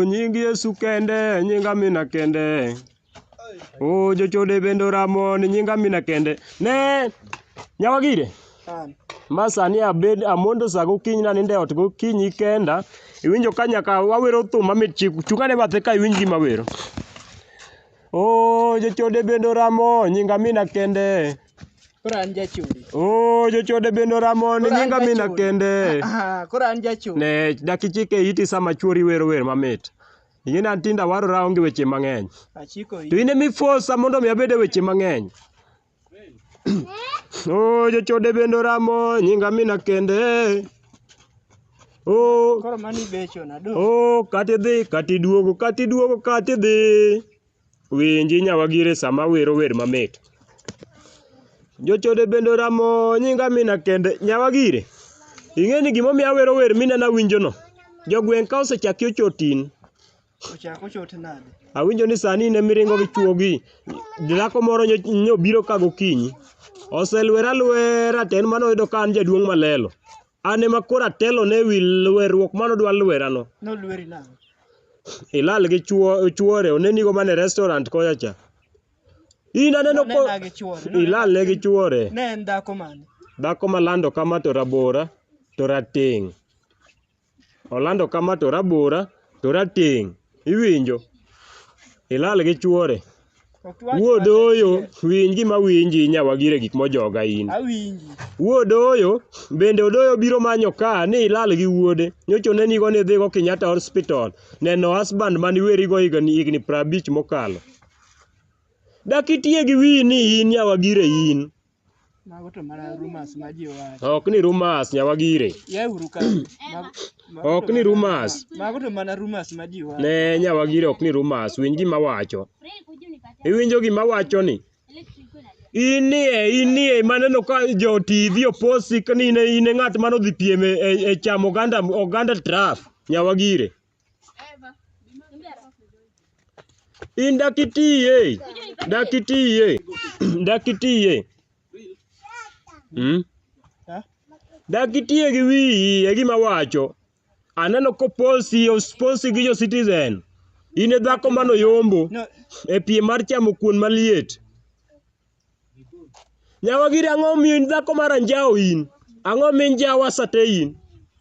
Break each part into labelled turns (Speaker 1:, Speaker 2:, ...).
Speaker 1: nying Yesu kende, nying Amina kende. O jochode bende oramo ni nying Amina kende. Ne, nyawagire. ma sani abed amondo sa gokinyi nanindo e ot gokinyi kenda iwinjo ka nyaka wawero thum mamit chik chung ane bathe ka iwinj gima wero o jochode bende oramo nying amina kende Koro an jachode. o jochode bende oramo ni Koro an nying amina jachode. kende Ah, Koro an jachode. ne dakichike iti sama chuori wero wer mamit ing'e ni an tinda warora onge weche mang'eny Achiko to in ema ifosa mondo mi abed e weche mang'eny Oh, jochode bende oramo nyinga mina kende. Oh, Koro mani becho na do. oh, kati dhi, kati duogo, kati duogo, kati dhi. Winji nyawagire sama wero wer mamit. Jochode bende oramo nyinga mina kende. Nyawagire, ing'e ni gimomiyo awero wer minena winjono. Jogweng' ka osechaki ochotin, Ochako chote nade? Awinjo ni sani in emiringo gi chuogi. Dhako moro nyo- nyobiro ka gokinyi. Oselwera lwera to en mano oyudo ka an jaduong' malelo. An ema koro atelo ne wi lwerruok mano dwa lwerano. Nolweri nang'o? Ilal gi chuo chuore onenigo mana e restaurant kocha cha. In aneno ko Nonena gi chuore. ilal ne gi chuore. Ne en dhako mane? Dhako malando kama to rabora to rateng'. Olando kama to rabora to rateng'. Iwinjo? Ilal gi chuore. Wuod oyo winj gima winji nyawagire gik mojoga in. Awinji. Wuod oyo bende odoyo biro manyo ka ni ilal gi wuode. Nyocha onenigo ni idhigo Kenyatta Hospital neno husband mani werigo higni higni prabich mokalo. Dak itiye gi wiyi ni in nyawagire in. Mago to mana rumors ma ji wacho. Ok ni rumors nyawagire. Yauru ka. Mago- mago Ok to ni mana- rumors. Mago to mana rumors ma ji wacho. Ne nyawagire ok ni rumors. Winj gima wacho. Iwinjo gima wacho ni? Inie, inie, maneno ka jo TV oposi ka ni in e- in e ng'at mane odhi piem e, e, e chamo oganda, oganda traf. Nyawagire. In dakitiye. Dakitiye. Dakitiye. Hmm? Dakitiye gi wiyi e gima wacho. Aneno koposi osposi gi jo citizen. In e dhako mano yombo No, e piem mar chamo kuon maliet. Nyawagiri ang'o miyo in dhako mar anjawo in? Ang'o min jawa sate in?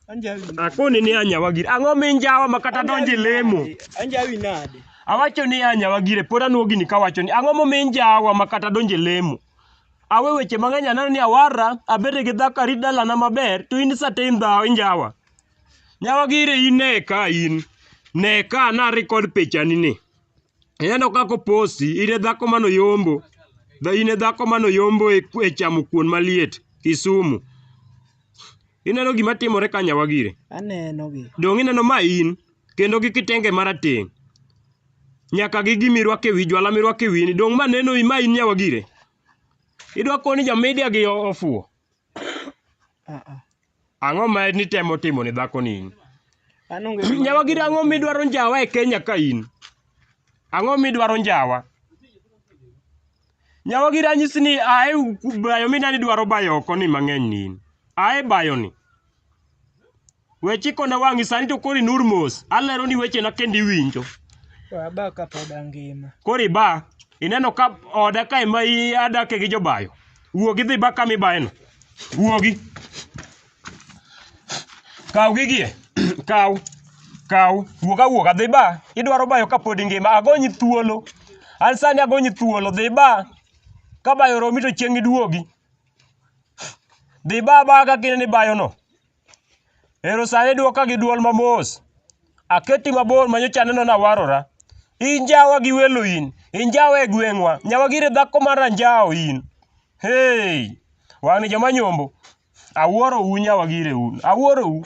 Speaker 1: Anjawi. Akoni ni anyawagiri. Ang'o min jawa makata donje lemo? Anjawi nade? Awacho ni anyawagire pod anuogi ni kawacho ni ang'o momin jawa makata donje lemo. Awe weche mang'eny aneno ni awarra abede gi dhako arit dalana maber to in sate in dhawo injawa. Nyawagire in ne ka in. Ne ka na record pichani ni. Ineno kaka oposi, ire dhako mano yombo. Dha ine dhako mano yombo e, e chamo kuon maliet Kisumu. Ineno gima timore ka nyawa gire. Aneno gi. Dong' ineno ma in kendo gi kitenge marateng'. Nyaka gi gimi rwake wi jwala mirwake wini. Dong' ma neno ma in nyawa gire. Idwa koni jamedia gi ofuo. Ang'o ma nitemo timo ne dhakoni? An onge gima- Nyawagiri ang'o midwaro njawa e Kenya ka in? Ang'o midwaro njawa? Nyawagiri anyisi ni ae bayo minani dwaro bayo oko ni mang'eny ni in. Ae bayo ni. We chikona wang'i sani to koro inur mos. Alero ni wechena kendo iwinjo. To aba ka pod angima. Koro iba, ineno ka oda ka ema i- adake gi jobayo. Wuogi dhi ba kama ibayeno. Wuogi. Kaw gigie. Kaw. Kaw. Wuog awuoga dhi ba. Idwaro bayo ka pod ingima. Agonyi thuolo. An sani agonyi thuolo. Dhi ba. Ka bayo romi to chieng' iduogi. Dhi ba ba kaka ineno ibayono. Ero sani dwoka gi dwol mamos. Aketi mabor manyocha aneno nawarora. Injawa gi welo in, injawa e gweng'wa, nyawa gire dhako mar anjawo in. Hey! Wan ni joma nyombo, awuoro u nyawa gire un, awuoro u.